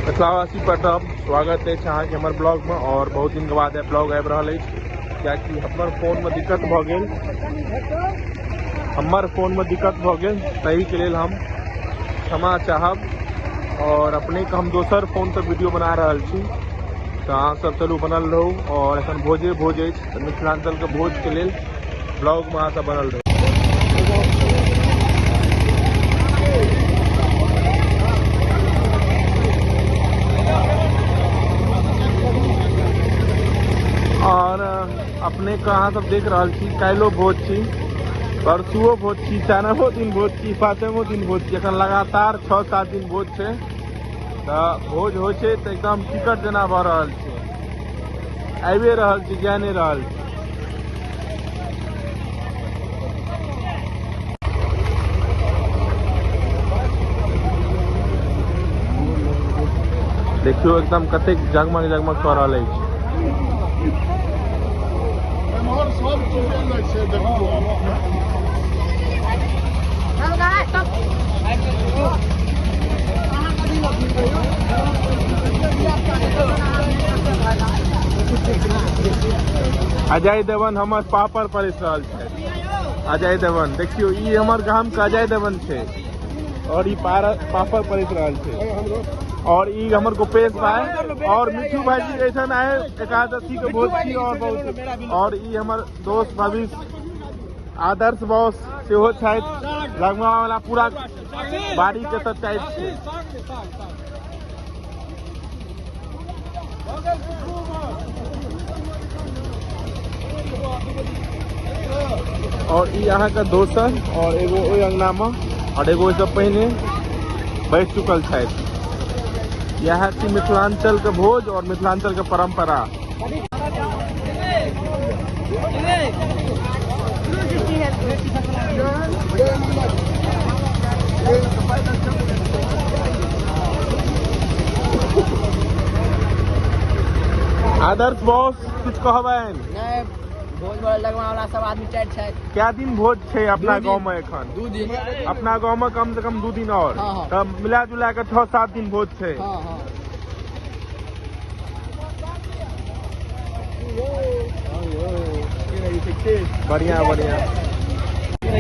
मिथिलावासी प्रताप स्वागत अछि अहाँके हमर ब्लॉगमे आओर बहुत दिनके बाद आइ ब्लॉग आबि रहल अछि कियाकि हमर फोनमे दिक्कत भऽ गेल हमर फोनमे दिक्कत भऽ गेल ताहिके लेल हम क्षमा चाहब आओर अपनेके हम दोसर फोनसँ वीडियो बना रहल छी तऽ अहाँसभ चलू बनल रहू आओर एखन भोजे भोज अछि तऽ मिथिलाञ्चलके भोजके लेल ब्लॉगमे अहाँ सब बनल रहू और अपने के अहाँ सब देख रहल छी काल्हिओ भोज छी परसुओ भोज छी चारिमो दिन भोज छी पाँचमो दिन भोज छी एखन लगातार छओ सात दिन भोज छै तऽ भोज होइ छै तऽ एकदम टिकट जेना भऽ रहल छै आबिए रहल छी जा नहि रहल छी देखियो एकदम कते जगमग जगमग कर रहा है सब चीज अजय देवन हमर पापड़ पर रहल छथि अजय देवन देखियो ई हमर गाम के अजय देवन छै और ई पापड़ पर रहल छै और ई हमर गोपेश भाई और मिठू भाई जी ऐसा आए एकादशी के भोज की और बहुत और ई हमर दोस्त भविष्य आदर्श बॉस सेहो छथि लगमा वाला पूरा बाड़ी के तो टाइप छै और ई अहाँ के दोसर और एगो ओहि अंगना में और एगो ओहिसँ पहिने बैठ चुकल छथि इएह छी मिथिलाञ्चलके भोज और मिथिलाञ्चलके परम्परा आदर्श बॉस कुछ कहबैन नहीं भोज भोज लगवा वाला सब आदमी चार छै क्या दिन भोज छै अपना गांव में एखन दू दिन अपना गांव में कम से कम दू दिन और हाँ, हाँ। तब मिला जुला के छह सात दिन भोज छै हाँ हाँ बढ़िया बढ़िया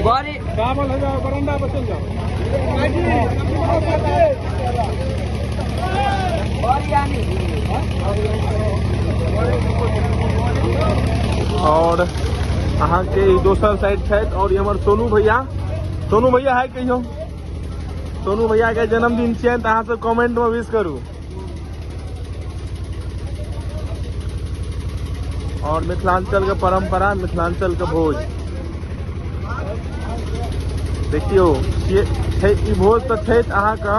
बारी चावल है जाओ बरंडा पर चल जाओ बारी आनी और अहाँ के ई दोसर साइड छथि और ई हमर सोनू भैया सोनू भैया है कहियो सोनू भैया के जन्मदिन छियनि तऽ अहाँ सब कमेंट में विश करू और मिथिलांचल के परंपरा मिथिलांचल के भोज देखियो ये छै ई भोज तऽ छै अहाँके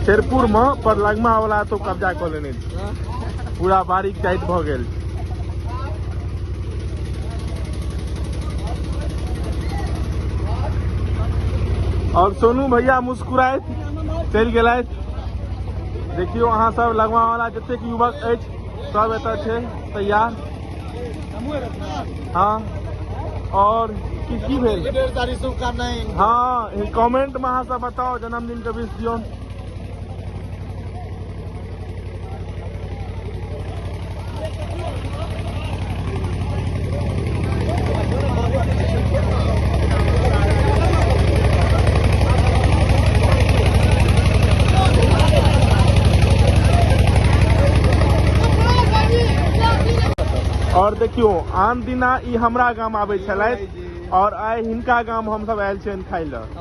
शेरपुर में पर लगमा वाला तो कब्जा कऽ लेने छै। पूरा बारीक टाइट भऽ गेल और सोनू भैया मुस्कुराइत चलि गेलथि देखियौ अहाँ सब लगवा वाला जतेक युवक अछि सब एतऽ छै तैयार हाँ और की की भेल ढेर सारी शुभकामनाएं हाँ कमेंट में अहाँ सब बताओ जन्मदिन के विश दियौन और देखियो आन दिना ई हमरा गाम आबै छलथि और आइ हिनका गाम हमसब आयल छियनि खाय लए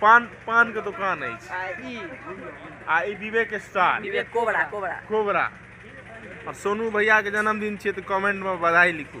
पान पान के दुकान अछि आ ई आ ई Vivek star Vivek cobra cobra cobra और सोनू भैया के जन्मदिन छियै तऽ कमेंट में बधाई लिखू